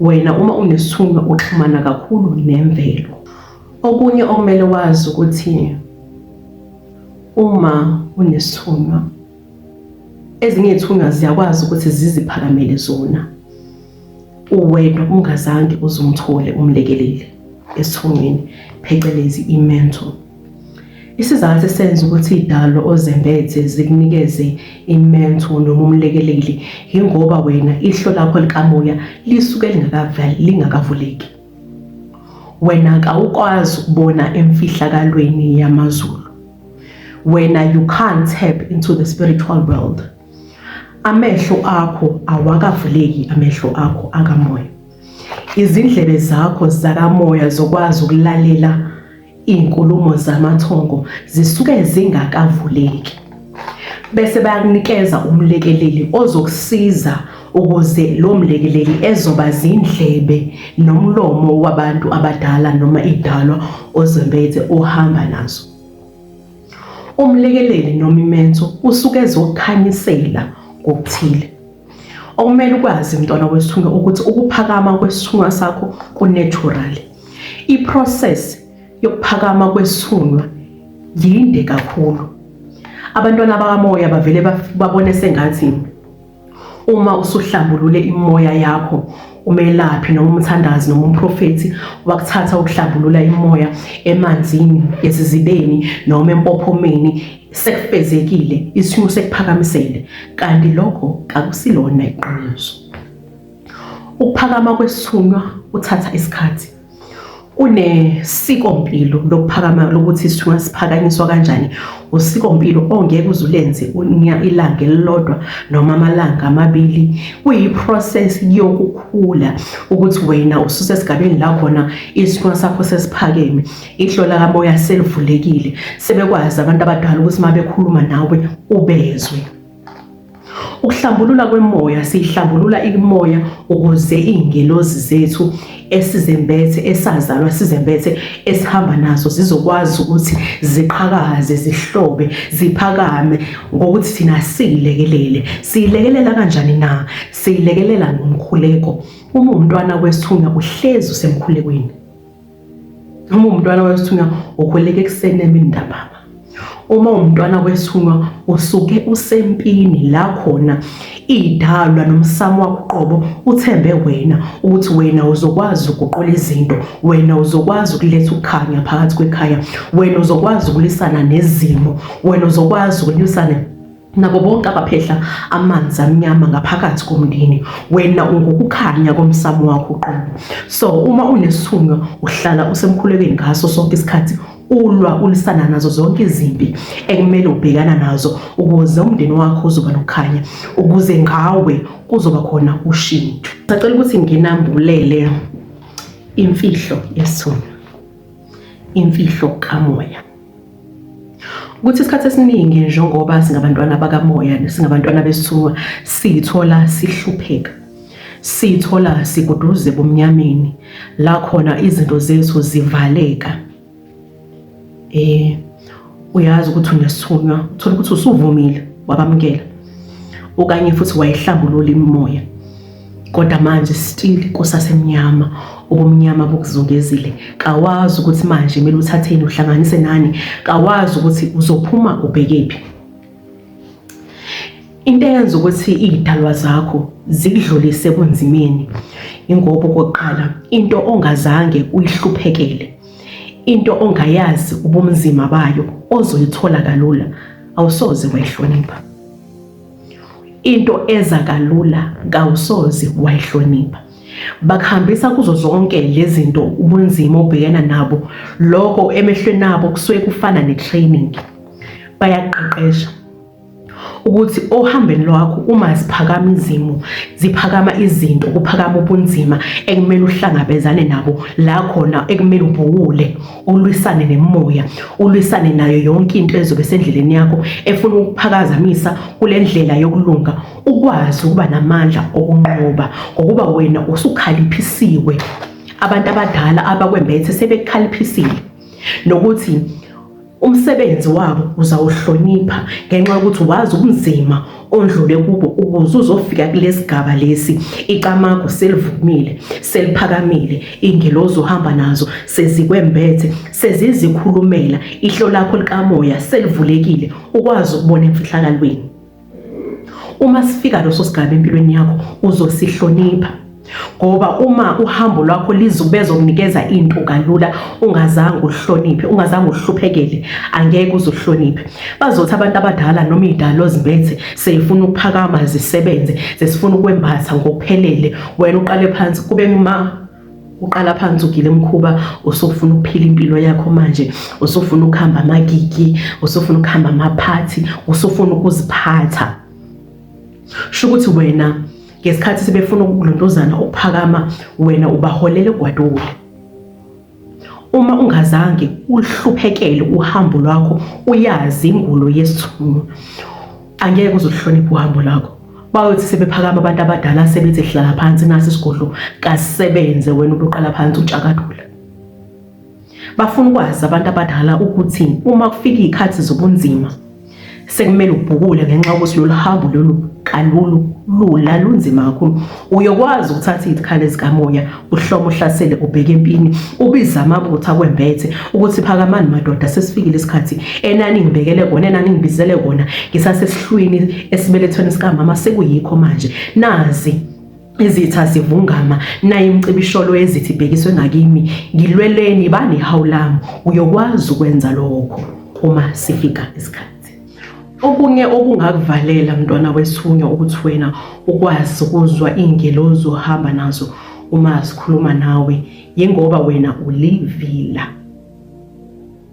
Wena uma unesithunywa uxhumana kakhulu nemvelo. Okunye okumele wazi ukuthi uma unesithunywa ezinye izithunywa ziyakwazi ukuthi ziziphakamele zona uwedwa ungazange uzumthole umlekeleli esithungweni phecelezi i-mentor Isizathu esenza ukuthi idalo ozembethe zikunikeze imentho noma umlekeleli yingoba wena ihlo lakho likamoya lisuke lingakavuleki. Wena kawukwazi ukubona emfihlakalweni yamazulu. Wena you can't tap into the spiritual world. Amehlo akho awakavuleki amehlo akho akamoya. Izindlebe zakho zakamoya zokwazi ukulalela Izinkulumo zamathongo zisuke zingakavuleki, bese bayakunikeza umlekeleli ozokusiza ukuze lo mlekeleli ezoba zindlebe nomlomo wabantu abadala noma idalwa ozembethe ohamba nazo. Umlekeleli noma imenso usuke ezokukhanyisela ngokuthile. okumele ukwazi mntwana wesithunga ukuthi ukuphakama kwesithunga sakho kunatural iprocess yokuphakama kwesithunga yinde kakhulu abantwana bakamoya bavele babone sengathi uma usuhlambulule imoya yakho umelaphi noma umthandazi noma umprofethi wakuthatha ukuhlambulula imoya emanzini esizibeni noma empophomeni sekufezekile isimo sekuphakamisele kanti lokho kakusilona iqiniso ukuphakama kwesithunywa kuthatha isikhathi kunesikompilo lokuphakama lokuthi isithunywa siphakanyiswa kanjani usikompilo ongeke uzulenze unya ilanga elilodwa noma amalanga amabili kuyiprocess yokukhula ukuthi wena ususesigabeni la khona isithunywa sakho sesiphakeme ihlo lakamoya selivulekile sebekwazi abantu abadala ukuthi uma bekhuluma nawe ubezwe ukuhlambulula kwemoya siyihlambulula imoya ukuze iingelozi zethu esizembethe esazalwa sizembethe esihamba nazo zizokwazi ukuthi ziqhakaze zihlobe ziphakame ngokuthi thina siyilekelele siyilekelela kanjani na siyilekelela ngomkhuleko uma umntwana kwesithunywa uhlezi usemkhulekweni Uma umntwana wesithunywa ukhuleka ekuseni emini ntambama. Uma umntwana wesithunywa usuke usempini la khona idalwa nomsamo wakho qobo uthembe wena ukuthi wena uzokwazi ukuqola izinto wena uzokwazi ukuletha ukukhanya phakathi kwekhaya wena uzokwazi ukulisana nezimo wena uzokwazi ukulisana nabo bonke abaphehla amanzi amnyama ngaphakathi komndeni wena ungukukhanya komsamo wakho uqobo so uma unesithunywa uhlala usemkhulekweni ngaso sonke isikhathi ulwa ulisana nazo zonke izimpi ekumele ubhekana nazo ukuze umndeni wakho uzoba nokukhanya ukuze ngawe kuzoba khona ushintsho sacela ukuthi nginambulele imfihlo yesithunywa imfihlo kamoya ukuthi isikhathi esiningi njengoba singabantwana bakamoya singabantwana besithunywa siyithola sihlupheka siyithola sikuduze bomnyameni la khona izinto zethu zivaleka eh uyazi ukuthi unesithunywa uthola ukuthi usuvumile wabamukela okanye futhi wayihlambulula imimoya Kodwa manje still kusasemnyama ubumnyama bukuzungezile kawazi ukuthi manje kumele uthatheni uhlanganise nani kawazi ukuthi uzophuma ubhekephi into eyenza ukuthi iy'dalwa zakho zikudlulise kunzimeni ingoba okokuqala into ongazange uyihluphekele into ongayazi ubumzima bayo ozoyithola kalula awusoze wayihlonipha Into eza kalula kawusoze wayihlonipha. Bakuhambisa kuzo zonke lezinto ubunzima obhekena nabo. Lokho emehlweni abo kusuke kufana netraining. Bayaqeqesha ukuthi ohambeni lwakho uma ziphakama izimo ziphakama izinto kuphakama ubunzima ekumele uhlangabezane nabo la khona ekumele ubhuwule ulwisane nemoya ulwisane nayo yonke into ezobe sendleleni yakho efuna ukuphakazamisa kule ndlela yokulunga ukwazi ukuba namandla okunqoba ngokuba wena usukhaliphisiwe abantu abadala abakwembethe sebekhaliphisiwe nokuthi umsebenzi wabo uzawuhlonipha ngenxa yokuthi wazi ubunzima ondlule kubo ukuze uzofika kulesigaba lesi icamago selivumile seliphakamile ingelozi uhamba nazo sezikwembethe sezizikhulumela ihlo lakho likamoya selivulekile ukwazi ukubona emfihlakalweni uma sifika loso sigaba empilweni yakho uzosihlonipha ngoba uma uhambo lwakho lizubeza ukunikeza into kalula ungazange uhloniphe ungazange uhluphekele angeke uzuhloniphe bazothi abantu abadala noma idalo zimbethe seyifuna ukuphakama zisebenze sesifuna ukwembatha ngokuphelele wena uqale phansi kube nguma uqala phansi ugile mkhuba usufuna ukuphila impilo yakho manje usufuna ukuhamba amagigi usufuna ukuhamba amaphathi usufuna ukuziphatha sho ukuthi wena ngesikhathi sebefuna ukulontozana ukuphakama wena ubaholele gwadule uma ungazange uhluphekele uhambo lwakho uyazi ingulo yesithunywa angeke uzohlonipha uhambo lwakho bayothi sebephakama abantu abadala sebethi hlala phansi nasi isigodlo kasebenze wena ubuqala phansi utshakadula Bafuna ukwazi abantu abadala ukuthi uma kufika izikhathi zobunzima sekumele ubhukule ngenxa yokuthi lolu hambo lolu kalulu lula lunzima kakhulu uyokwazi ukuthatha izikhali zikamoya uhloma uhlasele ubheke empini ubiza amabutho akwembethe ukuthi phakamani madoda sesifikile isikhathi enani ngibekele kona enani ngibizele kona ngisasesihlwini esibelethweni sikamama sekuyikho manje nazi izitha zivungama naye imcibisholo yezithi ibhekiswe ngakimi ngilweleni banehawu lami uyokwazi ukwenza lokho uma sifika isikhathi okunye okungakuvalela mntwana wethunywa ukuthi wena ukwazi ukuzwa iy'ngelozi ohamba nazo uma zikhuluma nawe yingoba wena ulivila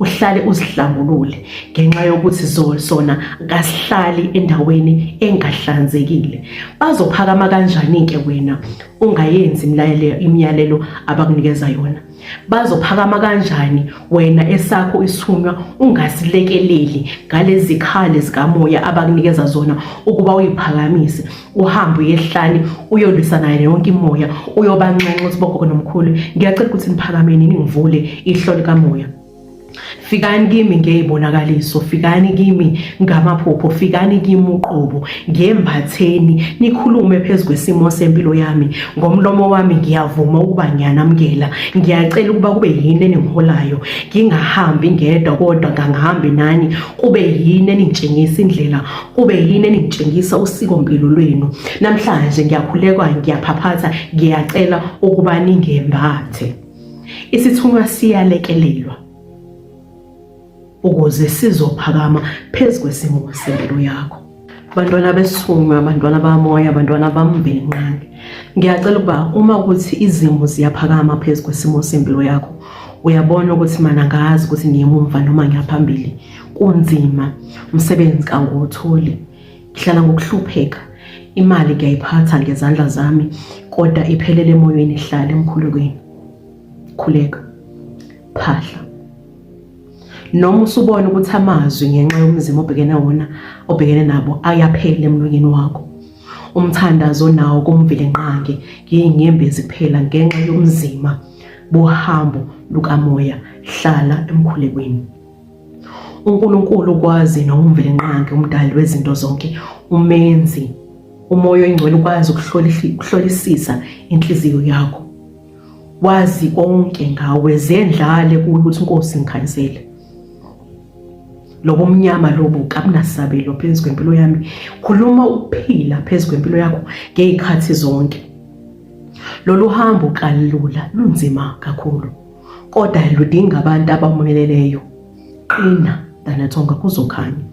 uhlale uzihlambulule ngenxa yokuthi sona kasihlali endaweni engahlanzekile bazophakama kanjani-ke wena ungayenzi imiyalelo abakunikeza yona bazophakama kanjani wena esakho isithunywa ungasilekeleli ngalezikhali zikamoya abakunikeza zona ukuba uyiphakamise uhambe uyehlane uyolwisa naye yonke imoya uyobanxenxa ukuthi bogogo nomkhulu ngiyacela ukuthi niphakameni ningivule ihlo likamoya fikani kimi ngeyibonakaliso fikani kimi ngamaphupho fikani kimi uqobo ngembatheni nikhulume phezulu kwesimo sempilo yami ngomlomo wami ngiyavuma ukuba ngiyanamukela ngiyacela ukuba kube yini eningiholayo ngingahambi ngedwa kodwa ngangihambi nani kube yini eningitshengisa indlela kube yini enitshengisa usikompilo lwenu namhlanje ngiyakhulekwa ngiyaphaphatha ngiyacela ukuba ningembathe isithunywa siyalekelelwa ukuze sizophakama phezu kwesimo sempilo yakho bantwana besithunywa bantwana bamoya bantwana bambenqange ngiyacela ukuba uma ukuthi izimo ziyaphakama phezu kwesimo sempilo yakho uyabona ukuthi mana ngazi ukuthi ngiyemumva noma ngiyaphambili kunzima umsebenzi kangiwutholi ngihlala ngokuhlupheka imali ngiyayiphatha ngezandla zami kodwa iphelele emoyeni ihlale emkhulekweni khuleka phahla noma usubona ukuthi amazwi ngenxa yomzimba obhekene wona obhekene nabo ayaphela emlonyeni wakho umthandazo nawo kumvile nqange ngiyinyembezi kuphela ngenxa yomzima bohambo lukamoya hlala emkhulekweni uNkulunkulu ukwazi nowumvelinqangi umdali wezinto zonke umenzi umoya oyingcwele ukwazi ukuhlolisisa inhliziyo yakho wazi konke ngawe zendlale kuyo ukuthi inkosi ngikhansele lobo mnyama lobo kabunasabelo phezu kwempilo yami khuluma ukuphila phezu kwempilo yakho ngey'khathi zonke lolu hambo kalula lunzima kakhulu kodwa ludinga abantu abamumeleleyo qina danatsonga kuzokhanya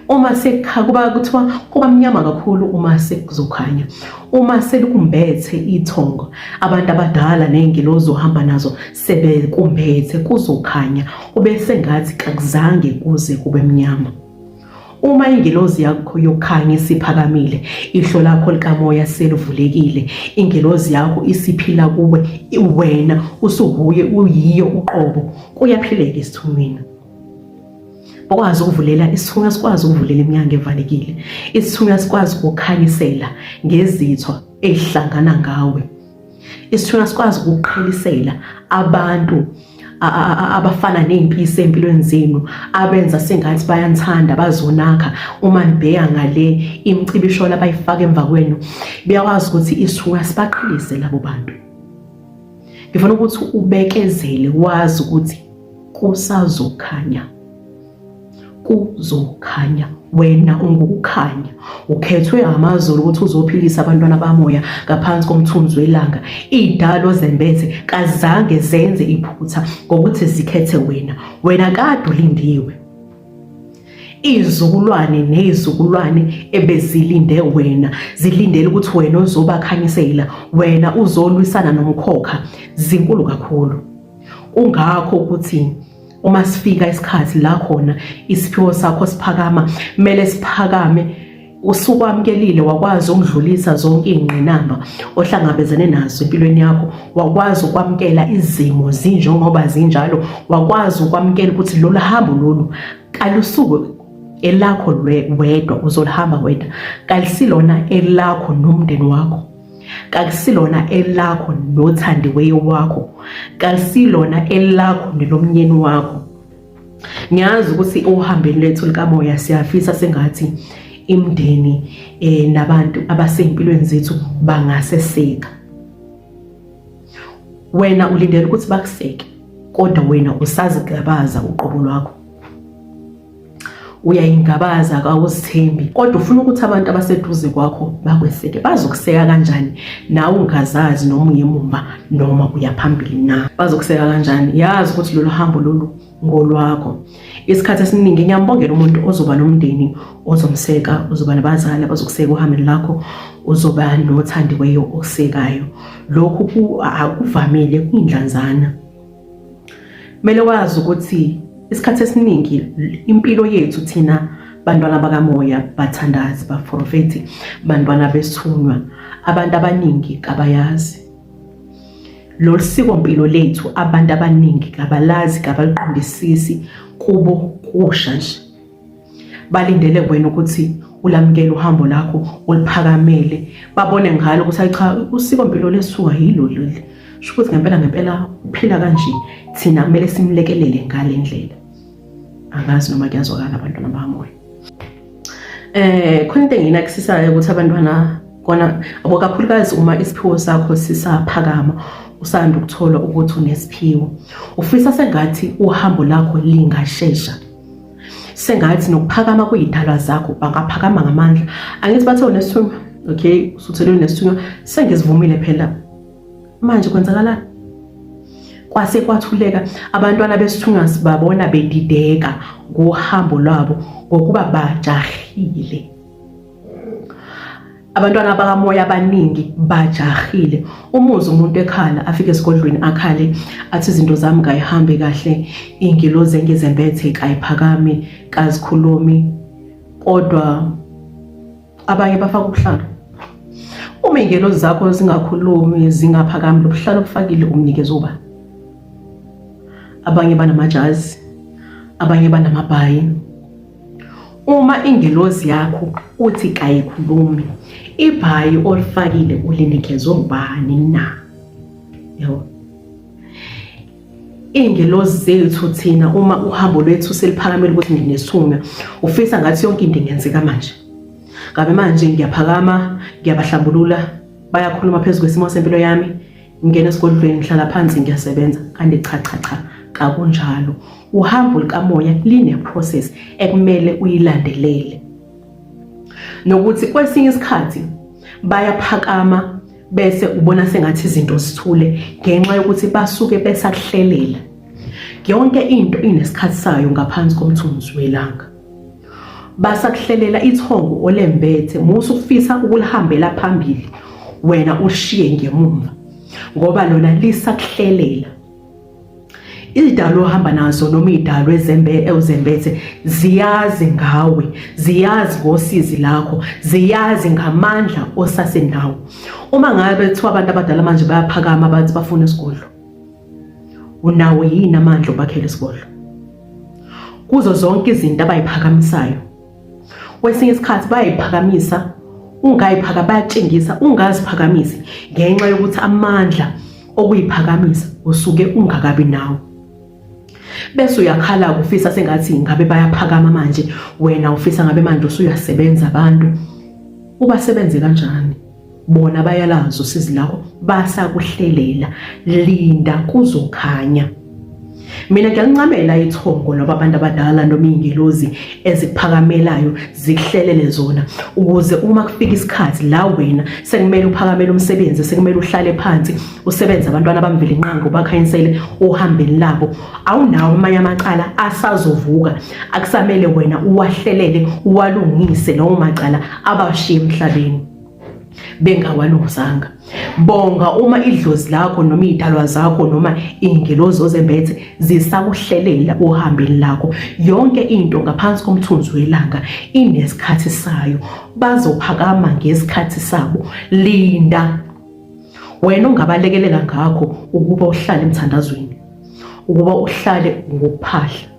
uma sekuba kuthiwa kuba mnyama kakhulu uma sekuzokhanya uma selikumbethe ithongo abantu abadala ney'ngilozi ohamba nazo sebekumbethe kuzokhanya kube sengathi kakuzange kuze kube mnyama Uma ingelozi yakho yokukhanya isiphakamile, ihlo lakho likamoya selivulekile, ingelozi yakho isiphila kuwe, wena usuwuye uyiyo uqobo, kuyaphileka isithunywini okwazi ukuvulela isithunywa sikwazi ukuvulela iminyango evalekile isithunywa sikwazi ukukhanyisela ngezithwa ezihlangana ngawe isithunywa sikwazi ukuqhelisela abantu abafana ney'mpisi ey'mpilweni zenu abenza sengathi bayanithanda bazonakha uma nibheka ngale imicibisholo abayifaka emva kwenu biyakwazi ukuthi isithunywa sibaqhelise labo bantu ngifuna ukuthi ubekezele wazi ukuthi kusazokhanya kuzokhanya wena ungukukhanya ukhethwe amazulu ukuthi uzophilisa abantwana bamoya ngaphansi komthunzi welanga idalo zembethe kazange zenze iphutha ngokuthi zikhethe wena wena kade ulindiwe izizukulwane nezizukulwane ebezilinde wena zilindele ukuthi wena uzobakhanyisela wena uzolwisana nomkhokha zinkulu kakhulu kungakho ukuthi uma sifika isikhathi la khona isiphiwo sakho siphakama kumele siphakame usukwamkelile wakwazi ukudlulisa zonke ingqinamba ohlangabezene nazo empilweni yakho wakwazi ukwamkela izimo zinjengoba zinjalo wakwazi ukwamkela ukuthi lolu hambo lolu kalusuke elakho wedwa uzolihamba wedwa kalisilona elakho nomndeni wakho kakusilona elakho nothandiweyo wakho kakusilona elakho nelomnyeni wakho ngiyazi ukuthi ohambeni lethu likamoya siyafisa sengathi imndeni eh nabantu abasempilweni zethu bangaseseka wena ulindele ukuthi bakuseke kodwa wena usazigabaza uqobo lwakho uyayingabaza kawuzithembi kodwa ufuna ukuthi abantu abaseduze kwakho bakweseke bazokuseka kanjani nawe ungazazi noma uyemumva noma uya phambili na bazokuseka kanjani yazi ukuthi lolu hambo lolu ngolwakho isikhathi esiningi ngiyambongela umuntu ozoba nomndeni ozomseka uzoba nabazali abazokuseka uhambeni lakho uzoba nothandiweyo osekayo lokhu akuvamile kuyindlanzana Kumele wazi ukuthi isikhathi esiningi impilo yethu thina bantwana bakamoya bathandazi baprofethi bantwana bethunywa abantu abaningi kabayazi lolu siko mpilo lethu abantu abaningi kabalazi kabaliqondisisi kubo kusha nje balindele wena ukuthi ulamukele uhambo lakho uliphakamele babone ngalo ukuthi hayi cha usiko mpilo lesuka yilo leli sho ukuthi ngempela ngempela uphila kanje thina kumele simlekelele ngale ndlela angazi noma kuyazwakala abantwana bamoya eh khona into enginakusisayo ukuthi abantwana kona abo kakhulukazi uma isiphiwo sakho sisaphakama usanda ukuthola ukuthi unesiphiwo ufisa sengathi uhambo lakho lingashesha sengathi nokuphakama kuyidalwa zakho bangaphakama ngamandla angithi bathe unesithunywa okay usuthelwe nesithunywa sengizivumile phela manje kwenzakalani kwase kwathuleka abantwana besithunywa sibabona bedideka ngohambo lwabo ngokuba bajahile abantwana bakamoya abaningi bajahile umuzi umuntu ekhala afike esigodlweni akhale athi izinto zami kayihambe kahle ingilozi engizembethe kayiphakami kazikhulumi kodwa abanye bafaka ubuhlalo uma ingelozi zakho zingakhulumi zingaphakami lobuhlalo obufakile umnikeza uba abanye banamajazi abanye banamabhayi Uma ingelosi yakho uthi kayikhulumi, ibhayi olifakile ulinikezwe ubani na? Yebo. Ingelosi zethu thina uma uhambo lwethu seliphakamile ukuthi nginesunya, ufisa ngathi yonke into ingenzeka manje. Ngabe manje ngiyaphakama, ngiyabahlambulula, bayakhuluma phezu kwesimo sempilo yami. ngingena esigodlweni ngihlala phansi ngiyasebenza kanti cha cha cha kakunjalo uhambo lukamoya line-process ekumele uyilandelele nokuthi kwesinye isikhathi bayaphakama bese ubona sengathi izinto zithule ngenxa yokuthi basuke besakuhlelela yonke into inesikhathi sayo ngaphansi komthunzi welanga basakuhlelela ithongo olembethe musa ukufisa ukulihambela phambili wena ushiye ngemumva ngoba lona lisakuhlelela idalo ohamba nazo noma idalo ezembe ewuzembethe ziyazi ngawe ziyazi ngosizi lakho ziyazi ngamandla osasenawo uma ngabe kuthiwa abantu abadala manje bayaphakama bathi bafuna isigodlo unawo yini amandla obakhela isigodlo kuzo zonke izinto abayiphakamisayo kwesinye isikhathi bayayiphakamisa ungayiphaka bayatshengisa ungaziphakamisi ngenxa yokuthi amandla okuyiphakamisa usuke ungakabi nawo bese uyakhala ufisa sengathi ngabe bayaphakama manje wena ufisa ngabe manje usuyasebenza abantu ubasebenze kanjani bona bayalazi usizi lakho basakuhlelela linda kuzokhanya mina ngiyancamela ithongo loba abantu abadala noma iy'ngelozi ezikuphakamelayo zikuhlelele zona ukuze uma kufika isikhathi la wena sekumele uphakamele umsebenzi sekumele uhlale phansi usebenze abantwana bamvele inqango bakhanyisele ohambeni labo awunawo amanye amacala asazovuka akusamele wena uwahlelele uwalungise lawo macala abashiye emhlabeni bengawalungisanga bonga uma idlozi lakho noma idalwa zakho noma ingelozi ozembethe zisakuhlelela uhambeni lakho yonke into ngaphansi komthunzi welanga inesikhathi sayo bazophakama ngesikhathi sabo linda wena ungabalekelela ngakho ukuba uhlale emthandazweni ukuba uhlale ngokuphahla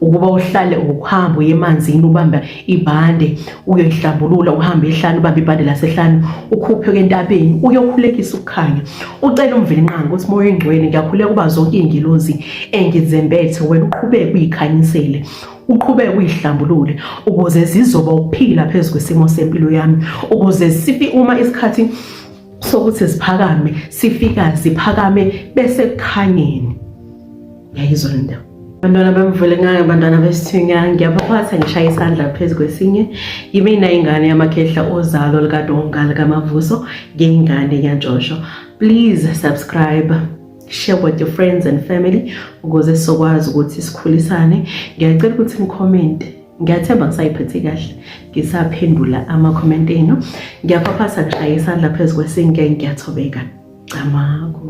ukuba uhlale ukuhamba uye emanzini ubamba ibhande uyoyihlambulula uhambe ehlane ubambe ibhande lasehlane ukhuphe kentabeni uyokhulekisa ukukhanya ucela umvelinqanga ukuthi moya oyingcwele ngiyakhuleka uba zonke iy'ngilozi engizembethe wena uqhubeke uyikhanyisele uqhubeke uyihlambulule ukuze zizoba ukuphila phezu kwesimo sempilo yami ukuze sifi uma isikhathi sokuthi siphakame sifika siphakame bese kukhanyeni ngayizwa le ndaba bantwana bamvule ngayo bantwana besithinya ngiyabaphatha ngishaya isandla phezu kwesinye yimina ingane yamakhehla ozalo likadonga likamavuso ngeyingane yantshosho please subscribe share with your friends and family ukuze sizokwazi ukuthi sikhulisane ngiyacela ukuthi ngicommente ngiyathemba ngisayiphethe kahle ngisaphendula ama-comment enu ngiyaphaphasa ngishaya isandla phezu kwesinke ngiyathobeka camako